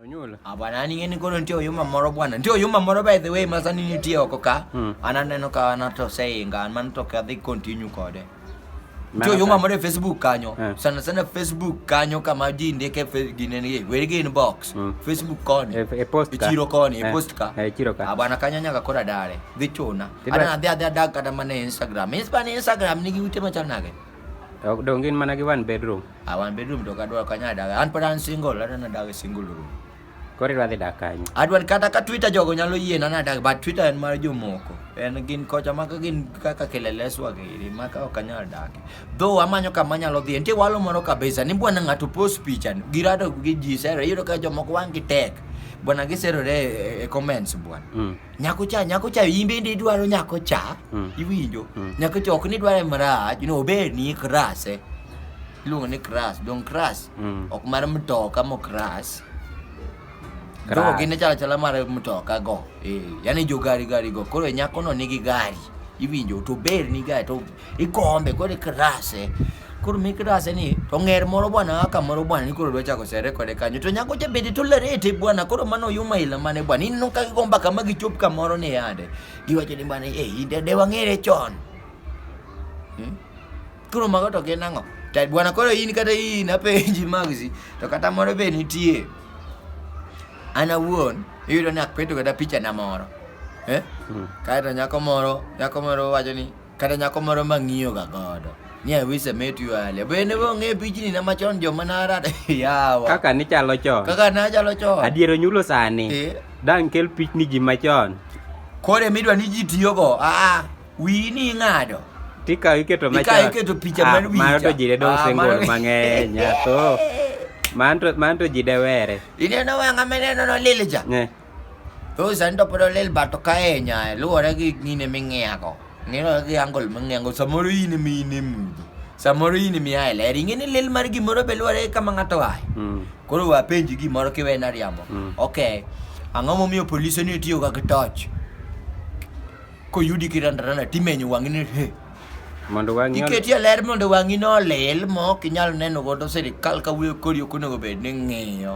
Onyula. Ah, bwana ni ngeni kono ndio yuma moro bwana. Ndio yuma moro by the way masani ni tio koka. Hmm. Ananeno ka anato sayinga man to ka dhi continue kode. Ndio yuma moro Facebook kanyo. Hmm. Sana sana Facebook kanyo kama ji ndike gine ni weri gin box. Hmm. Facebook koni. E, e post ka. Chiro koni, e eh, post ka. E chiro ka. Ah, bwana kanya nyaka kora dare. Dhi chuna. Ana adhi adhi adak kata mana Instagram. Instagram ni giute machal nage. Ok dong gin mana gi one bedroom. Ah, one bedroom to kadwa kanya daga. An pod an single, an adaga single room. Koro idwa dhi dak kanye? Adwa ni kata ka Twitter jogo nyalo yie na nadag, but Twitter en mar jomoko. En gin kocha ma ka gin kaka keleleswa giri ma ka ok anyal dak. Though amanyo kama anyalo dhiye. Nitie walo moro kabisa ni bwana ng'ato post picha ni, girado gi ji sero. Iyudo ka jomoko wang' gi tek. Bwana giserore e, e comments bwana. Mm. nyako cha nyako cha in bende idwaro nyako cha mm. iwinjo mm. nyako cha ok ni dware marach no ober ni krase iluongo ni kras dong kras mm. ok mar mtoka mo kras go gine chala chala mar mtoka go e, yani jo gari gari go koro e nyako no nigi gari iwinjo to ber ni gari to ikombe koro ikrase koro mikrase ni to ng'er moro bwana kaka moro bwana ni koro dwa chako sere kode kanyo to nyako cha bende to lerete bwana koro mano yuma ila mane bwana ineno ka gigomba kama gichop kamoro ni yande giwacho ni bwana eh inde de wang'ere chon hmm? koro mago to gin ang'o to bwana koro in kata in apenji magsi to kata moro be nitie an awuon iyudo ni akpeto kata picha na moro eh? hmm. kaeto nyako moro nyako moro wacho ni Kata nyako moro ma ng'iyo ga godo. Ni I wish I met you earlier. Bende bo ng'e pichni na machon joma narada. Yawa. Kaka nichalo chon. Kaka nachalo chon. Adiero nyulo sani. Eh. Dang' kel pichni ji machon. Kore midwa ni ji tiyogo. Aa. Ah, ah. Wi ni ing'ado. Tika iketo machon. Tika iketo picha ah, mar wicha. Mano to ji de dong' single mang'eny. Nyato. Manto, manto ji de were. Ineno wang'a meneno no lilija. Yeah. Thoth sani to pod olil but ok ahinya luwore gi gine ming'iyago. Ng'ino gi angle ming'iyago samoro in ema in e mudho. Samoro in ema ia e ler. Ing'e ni lil mar gimoro be luwore gi kama ng'ato ae. Mm. Koro we apenji gimoro kiwena riambo. Mm. Okay. Ang'o momiyo polise ni tiyoga gi torch? Koyudi kirandarana timenyo wang'i ni he. Mondo wang'i ol- Iketi e ler mondo wang'i no olil ma ok inyal neno godo sirikal ka wuoyo kodi ok onego bed ni ng'iyo.